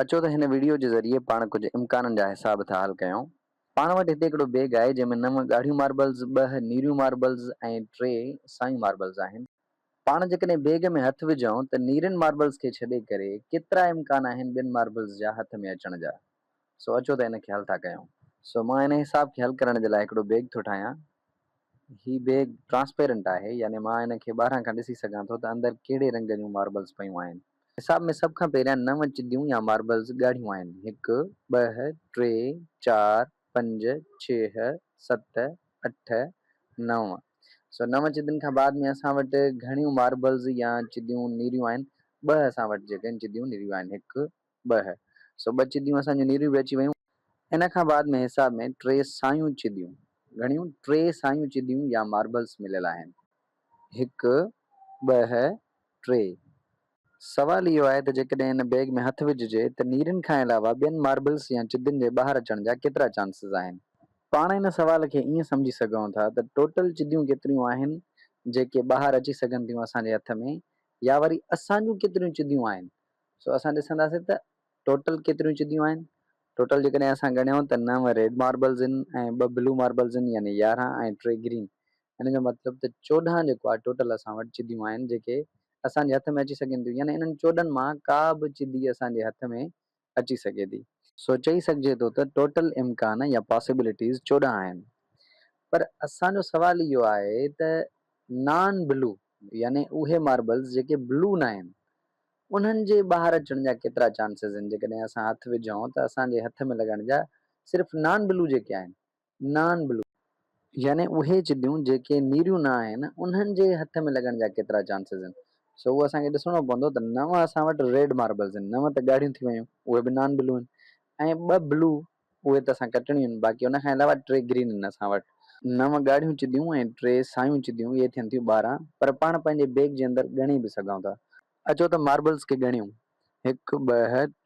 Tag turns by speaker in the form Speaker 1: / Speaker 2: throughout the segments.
Speaker 1: اچو ته هن وڊيو جي ذريعي پاڻ ڪجهه امڪانن جا حساب ٿا حل ڪيون. پاڻ وٽ هتي هڪڙو بيگ آهي جنهن ۾ نو ڳاڙهيون ماربلز، ٻه نيريون ماربلز ۽ ٽي سايون ماربلز آهن. پاڻ جيڪڏهن بيگ ۾ هٿ وجهون ته نيرين ماربلز کي ڇڏي ڪري ڪيترا امڪان آهن ٻين ماربلز جا هٿ ۾ اچڻ جا. سو اچو ته ان کي حل ٿا ڪيون. سو مان ان حساب کي حل ڪرڻ جي لاء هڪڙو بيگ ٿو ٺاهيان. هي بيگ ٽرانسپيرنٽ آهي يعني مان ان کي ٻاهران کان ڏسي سگهان ٿو ته اندر ڪهڙي رنگ جون ماربلز پيون آهن. حساب ۾ سڀ کان پهريان نو چديون يا ماربلز ڳاڙهيون آهن، هڪ، ٻه، ٽي، چار، پنج، ڇهه، ست، اٺ، نو. سو نو چدين کان بعد ۾ اسان وٽ گهڻيون ماربلز يا چديون نيريون آهن، ٻه اسان وٽ جيڪي آهن چديون نيريون آهن، هڪ، ٻه سو ٻه چديون اسان جون نيريون به اچي ويون. ان کان بعد ۾ حساب ۾ ٽي سايون چديون، گهڻيون ٽي سايون چديون يا ماربلس مليل آهن. هڪ، ٻه، ٽي. سوال اهو آهي ته جيڪڏهن ان بيگ ۾ هٿ وجهجي ته نيرين کان علاوه ٻين ماربلس يا چدين جي ٻاهر اچڻ جا ڪيترا چانسز آهن؟ پاڻ ان سوال کي ائين سمجهي سگهون ٿا ته ٽوٽل چديون ڪيتريون آهن جيڪي ٻاهر اچي سگهن ٿيون اسان جي هٿ ۾ يا وري اسان جون ڪيتريون چديون آهن سو اسان ڏسنداسين ته ٽوٽل ڪيتريون چديون آهن. ٽوٽل جيڪڏهن اسان ڳڻيون ته نو ريڊ ماربلز آهن ۽ ٻه بلو ماربلز آهن يعني يارهن ۽ ٽي گرين ان جو مطلب ته چوڏهن جيڪو آهي ٽوٽل اسان وٽ چديون آهن جيڪي اسان جي هٿ ۾ اچي سگهن ٿيون يعني انهن چوڏهن مان ڪا به چدي اسان جي هٿ ۾ اچي سگهي ٿي. سو چئي سگهجي ٿو ته ٽوٽل امڪان يا پاسيبلٽيز چوڏهن آهن. پر اسان جو سوال اهو آهي ته نان بلو يعني اهي ماربلز جيڪي بلو ناهن انهن جي ٻاهر اچڻ جا ڪيترا چانسز آهن جيڪڏهن اسان هٿ وجهون ته اسان جي هٿ ۾ لڳڻ جا صرف نان بلو جيڪي آهن نان بلو يعني اهي چديون جيڪي نيريون نه آهن انهن جي هٿ ۾ لڳڻ جا ڪيترا چانسز آهن سو اهو اسان کي ڏسڻو پوندو ته نو اسان وٽ ريڊ ماربلز آهن نو ته ڳاڙهيون ٿي ويون اهي به نان بلو آهن ۽ ٻه بلو اهي ته اسان ڪٽڻيون آهن، باقي ان کان علاوه ٽي گرين آهن اسان وٽ. نو ڳاڙهيون چديون ۽ ٽي سايون چديون، اهي ٿين ٿيون ٻارهن، پر پاڻ پنهنجي بيگ جي اندر ڳڻي به سگهون ٿا. اچو ته ماربلز کي ڳڻيون، هڪ، ٻه،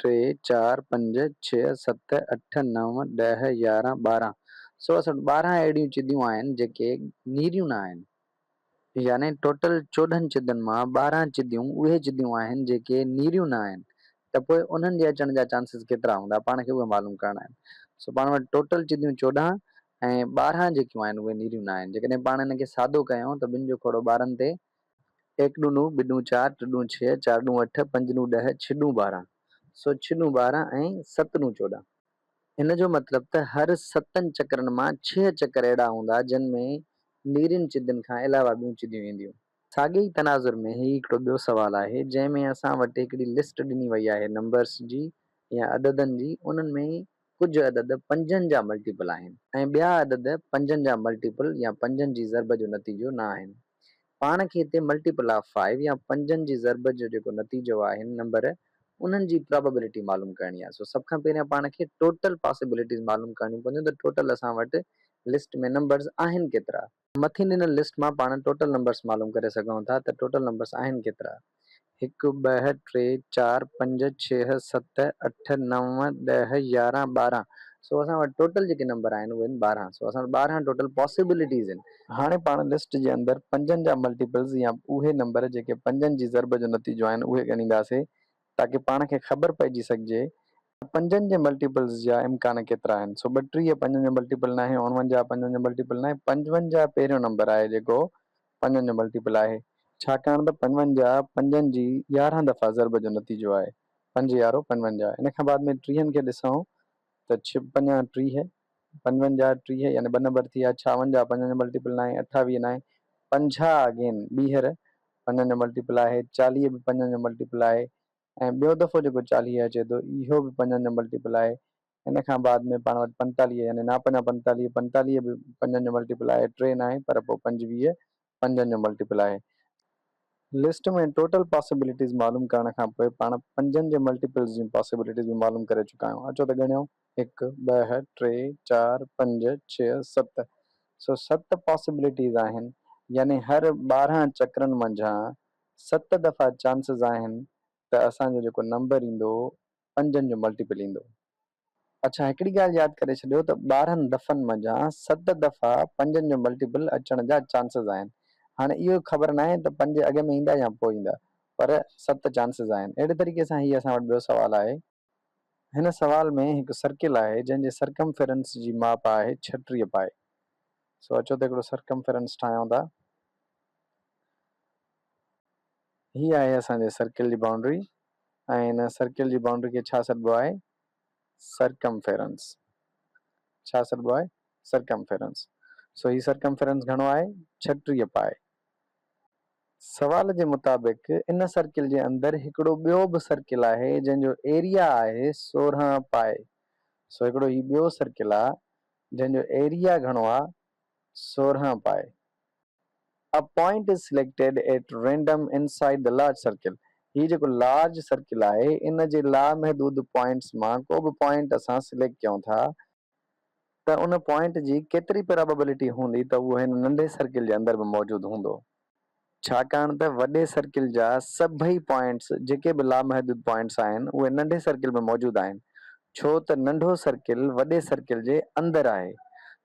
Speaker 1: ٽي، چار، پنج، ڇهه، ست، اٺ، نو، ڏهه، يارهن، ٻارهن. سو اسان وٽ ٻارهن اهڙيون چديون آهن، جيڪي نيريون نه آهن. يعني ٽوٽل چوڏهن چدن مان ٻارهن چديون اهي چديون آهن جيڪي نيريون نه آهن ته پوء انهن جي اچڻ جا چانسز ڪيترا هوندا پاڻ کي اهي معلوم ڪرڻا آهن سو پاڻ وٽ ٽوٽل چديون چوڏهن ۽ ٻارهن جيڪيون آهن اهي نيريون نه آهن جيڪڏهن پاڻ ان کي سادو ڪيون ته ٻن جو کوڙو ٻارهن تي ايڪ ڏون نو ٻه ڏون چار ٽه ڏون ڇهه چار ڏون اٺ پنج ڏون ڏهه ڇهه ڏون ٻارهن سو ڇهه ڏون ٻارهن ۽ ست ڏون چوڏهن. هن جو مطلب ته هر ستن چڪرن مان ڇهه چڪر اهڙا هوندا جن ۾ نيرين چدين کان علاوه ٻيون چديون اينديون. ساڳئي ئي تناظر ۾ هي هڪڙو ٻيو سوال آهي جنهن ۾ اسان وٽ هڪڙي لسٽ ڏني وئي آهي نمبرس جي يا عددن جي انهن ۾ ڪجهه عدد پنجن جا ملٽيپل آهن ۽ ٻيا عدد پنجن جا ملٽيپل يا پنجن جي ضرب جو نتيجو نه آهن پاڻ کي هتي ملٽيپل آف فائيو يا پنجن جي ضرب جو جيڪو نتيجو آهي هن نمبر انهن جي پرابيبلٽي معلوم ڪرڻي آهي سو سڀ کان پهريان پاڻ کي ٽوٽل پاسيبلٽيز معلوم ڪرڻيون پونديون ته ٽوٽل اسان وٽ لسٽ ۾ نمبرز آهن ڪيترا. مٿي ڏنل لسٽ مان پاڻ ٽوٽل نمبرز معلوم ڪري سگهون ٿا ته ٽوٽل نمبرز آهن ڪيترا. هڪ ٻه ٽي چار پنج ڇهه ست اٺ نو ڏهه يارهن ٻارهن سو اسان وٽ ٽوٽل جيڪي نمبر آهن اهي آهن ٻارهن سو اسان وٽ ٻارهن ٽوٽل پاسيبلٽيز آهن. هاڻي پاڻ لسٽ جي اندر پنجن جا ملٽيپلز يا اهي نمبر جيڪي پنجن جي ضرب جو نتيجو آهن اهي ڳڻينداسين تاڪي پاڻ کي خبر پئجي سگهجي ته پنجن جي ملٽيپلز جا امڪان ڪيترا آهن سو ٻٽيهه پنجن جو ملٽيپل ناهي اوڻونجاهه پنجن جو ملٽيپل ناهي پنجونجاهه پهريون نمبر آهي جيڪو پنجن جو ملٽيپل آهي، ڇاڪاڻ ته پنجونجاهه پنجن جي يارهن دفعا ضرب جو نتيجو آهي، پنج يارهو پنجونجاهه، ان کان بعد ۾ ٽيهن کي ڏسئون ته ڇهه پنجان ٽيهه، پنجونجاهه ٽيهه يعني ٻه نمبر ٿي ويا، ڇاونجاهه پنجن جو ملٽيپل ناهي، اٺاويهه ناهي، پنجاهه اگين ٻيهر پنجن جو ملٽيپل آهي، چاليهه به پنجن جو ملٽيپل آهي ۽ ٻيو دفعو جيڪو چاليهه اچي ٿو اهو به پنجن جو ملٽيپل آهي، ان کان بعد ۾ پاڻ وٽ پنجتاليهه يعني نا پنجان پنجتاليهه، پنجتاليهه به پنجن جو ملٽيپل آهي، ٽي ناهي پر پوء پنجويهه پنجن جو ملٽيپل آهي. لسٽ ۾ ٽوٽل پاسيبلٽيز معلوم ڪرڻ کان پوء پاڻ پنجن جي ملٽيپلز جون پاسيبلٽيز به معلوم ڪري چڪا آهيون. اچو ته ڳڻيون، هڪ، ٻه، ٽي، چار، پنج، ڇهه، ست. سو ست پاسيبلٽيز آهن يعني هر ٻارهن چڪرن منجهان ست دفعا چانسز آهن ته اسان جو جيڪو نمبر ايندو پنجن جو ملٽيپل ايندو. اڇا هڪڙي ڳالهه ياد ڪري ڇڏيو ته ٻارهن دفعن منجهان ست دفعا پنجن جو ملٽيپل اچڻ جا چانسز آهن. هاڻي اهو خبر ناهي ته پنج اڳ ۾ ايندا يا پوء ايندا پر ست چانسز آهن. اهڙي طريقي سان هي اسان وٽ ٻيو سوال آهي. هن سوال ۾ هڪ سرڪل آهي جنهن جي سرڪمفرنس جي ماپ آهي ڇٽيهه پاء. سو اچو ته هڪڙو سرڪمفرنس ٺاهيون ٿا. هي آهي اسان جي سرڪل جي بائونڊري ۽ هن سرڪل جي بائونڊري کي ڇا سڏبو آهي سرڪمفيرنس ڇا سڏبو آهي سرڪمفيرنس سو هي سرڪمفيرنس گهڻو آهي ڇٽيهه پائي سوال جي مطابق ان سرڪل جي اندر هڪڙو ٻيو به سرڪل آهي جنهن جو ايريا آهي سورهن پائي سو هڪڙو هي ٻيو سرڪل آ جنهن جو ايريا گهڻو آ سورهن پائي A point is selected at random inside the large circle هي جيڪو لارج سرڪل آهي ان جي لامحدود پوائنٽس مان ڪو به پوائنٽ اسان سليڪٽ ڪيون ٿا ته ان پوائنٽ جي ڪيتري پراببلٽي هوندي ته اهو هن ننڍي سرڪل جي اندر به موجود هوندو. ڇاڪاڻ ته وڏي سرڪل جا سڀئي پوائنٽس جيڪي به لامحدود پوائنٽس آهن اهي ننڍي سرڪل ۾ موجود آهن ڇو ته ننڍو سرڪل وڏي سرڪل جي اندر آهي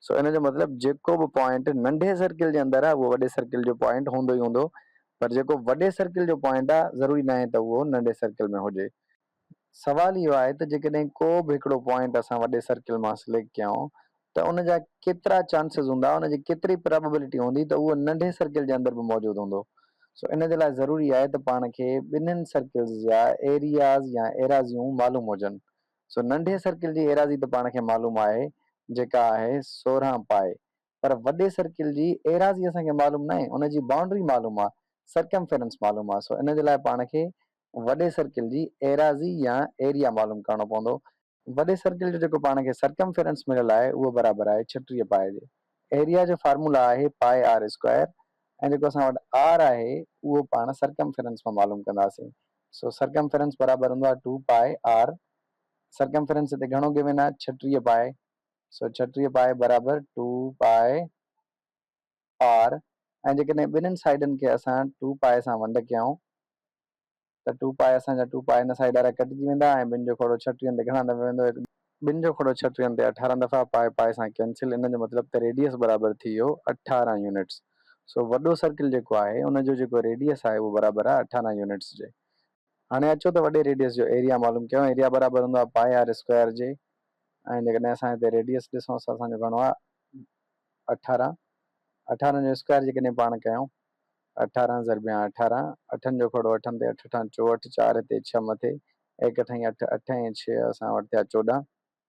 Speaker 1: سو ان جو مطلب جيڪو به پوائنٽ ننڍي سرڪل جي اندر آهي اهو وڏي سرڪل جو پوائنٽ هوندو ئي هوندو پر جيڪو وڏي سرڪل جو پوائنٽ آهي ضروري ناهي ته اهو ننڍي سرڪل ۾ هجي سوال اهو آهي ته جيڪڏهن ڪو به هڪڙو پوائنٽ اسان وڏي سرڪل مان سليڪٽ ڪيائون ته ان جا ڪيترا چانسز هوندا ان جي ڪيتري پرابيبلٽي هوندي ته اهو ننڍي سرڪل جي اندر به موجود هوندو سو ان جي لاء ضروري آهي ته پاڻ کي ٻنهن سرڪلز جا ايرياز يا ايراضيون معلوم هجن سو ننڍي سرڪل جي ايراضي ته پاڻ کي معلوم آهي جيڪا آهي سورهن پائي پر وڏي سرڪل جي ايراضي اسان کي معلوم ناهي، ان جي بائونڊري معلوم آ، سرڪمفرنس معلوم آ، سو ان جي لاء پاڻ کي وڏي سرڪل جي ايراضي يا ايريا معلوم ڪرڻو پوندو. وڏي سرڪل جو جيڪو پاڻ کي سرڪمفرنس مليل آهي اهو برابر آهي ڇٽيهه پاء جي. ايريا جو فارمولا آهي پاء آر اسڪوائر ۽ جيڪو اسان وٽ آر آهي اهو پاڻ سرڪمفرنس مان معلوم ڪنداسين، سو سرڪمفرنس برابر هوندو آهي ٽو پاء آر، سرڪمفرنس هتي گهڻو گيون آهي ڇٽيهه پاء، سو ڇٽيهه پائي برابر ٽو پائي آر ۽ جيڪڏهن ٻنهن سائيڊن کي اسان ٽو پائي سان ونڊ ڪيائون ته ٽو پائي اسان جا ٽو پائي ان سائيڊ وارا ڪٽجي ويندا ۽ ٻن جو کوڙو ڇٽيهن تي گهڻا دفعا ويندو هڪ ٻن جو کوڙو ڇٽيهن تي اٺارهن دفعا پائي پائي سان ڪينسل ان جو مطلب ته ريڊيس برابر ٿي ويو اٺارهن يونٽس سو وڏو سرڪل جيڪو آهي ان جو جيڪو ريڊيس آهي اهو برابر آهي اٺارهن يونٽس جي هاڻي اچو ته وڏي ريڊيس جو ايريا معلوم ڪيون. ايريا برابر هوندو آهي پائي آر اسڪوائر جي ۽ جيڪڏهن اسان هتي ريڊيس ڏسون سو اسان جو گهڻو آهي اٺارهن. اٺارهن جو اسڪوائر جيڪڏهن پاڻ ڪيون اٺارهن ضربيان اٺارهن اٺن جو کوڙو اٺن تي اٺ اٺان چوهٺ چار هتي ڇهه مٿي ايڪ اٺائين اٺ اٺ ۽ ڇهه اسان وٽ ٿيا چوڏهن.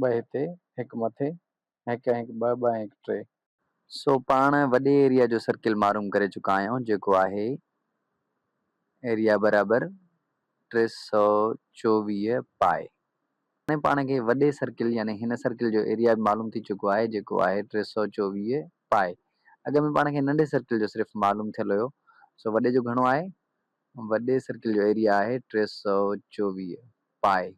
Speaker 1: ٻه هتي، هڪ مٿي، هڪ ۽ هڪ ٻه، ٻه ۽ هڪ ٽي. سو پاڻ وڏي ايريا جو سرڪل معروم ڪري چڪا آهيون جيڪو آهي ايريا برابر ٽي سؤ چوويهه پائي. هاڻي پاڻ کي وڏي سرڪل يعني هن سرڪل جو ايريا به معلوم ٿي چڪو آهي جيڪو آهي ٽي سؤ چوويهه پائي. اڳ ۾ پاڻ کي ننڍي سرڪل جو صرف معلوم ٿيل هيو سو وڏي جو گهڻو آهي؟ وڏي سرڪل جو ايريا آهي ٽي سؤ چوويهه پائي.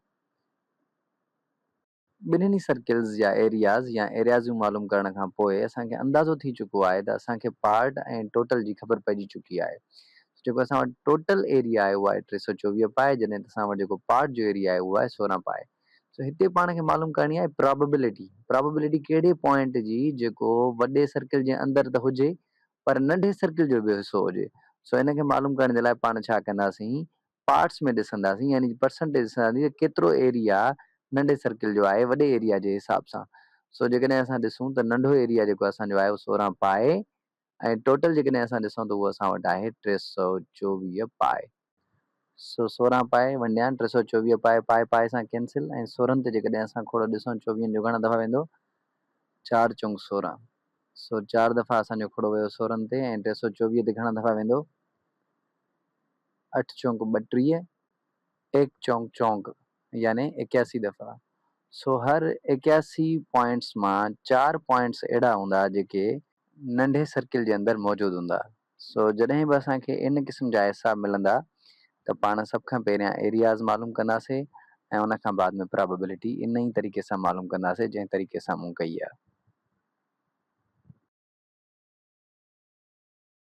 Speaker 1: ٻنهن ئي سرڪلز جا ايرياز يا ايريازون معلوم ڪرڻ کان پوء اسان کي اندازو ٿي چڪو آهي ته اسان کي پارٽ ۽ ٽوٽل جي خبر پئجي چڪي آهي سو جيڪو اسان وٽ ٽوٽل ايريا آهي اهو آهي ٽي سؤ چوويهه پائي جڏهن ته اسان وٽ جيڪو پارٽ جو ايريا آهي اهو آهي سورهن پائي سو هتي پاڻ کي معلوم ڪرڻي آهي پراببلٽي پراببلٽي ڪهڙي پوائنٽ جي جيڪو وڏي سرڪل جي اندر ته هجي پر ننڍي سرڪل جو به حصو هجي سو ان کي معلوم ڪرڻ جي لاء پاڻ ڇا ڪنداسين پارٽس ۾ ڏسنداسين يعني پرسنٽيج ڏسنداسين ته ڪيترو ايريا ننڍي سرڪل جو آهي وڏي ايريا جي حساب سان سو جيڪڏهن اسان ڏسون ته ننڍو ايريا جيڪو اسان جو آهي اهو سورهن پاء ۽ ٽوٽل جيڪڏهن اسان ڏسون ته اهو اسان وٽ آهي ٽي سؤ چوويهه پاء سو سورهن پاء ونڊيان ٽي سؤ چوويهه پاء پاء پاء سان ڪينسل ۽ سورهن تي جيڪڏهن اسان کوڙو ڏسون چوويهن جو گهڻا دفعا ويندو چار چونگ سورهن سو چار دفعا اسان جو کوڙو ويو سورهن تي ۽ ٽي سؤ چوويهه تي گهڻا دفعا ويندو اٺ چونڪ ٻٽيهه، ايڪ چونڪ چونڪ، يعني ايڪياسي دفعا، سو هر ايڪياسي پوائنٽس مان چار پوائنٽس اهڙا هوندا جيڪي ننڍي سرڪل جي اندر موجود هوندا، سو جڏهن به اسان کي ان قسم جا حساب ملندا ته پاڻ سڀ کان پهريان ايرياز معلوم ڪنداسي ۽ ان کان بعد ۾ پرابيبلٽي ان ئي طريقي سان معلوم ڪنداسي جنهن طريقي سان مون ڪئي آهي.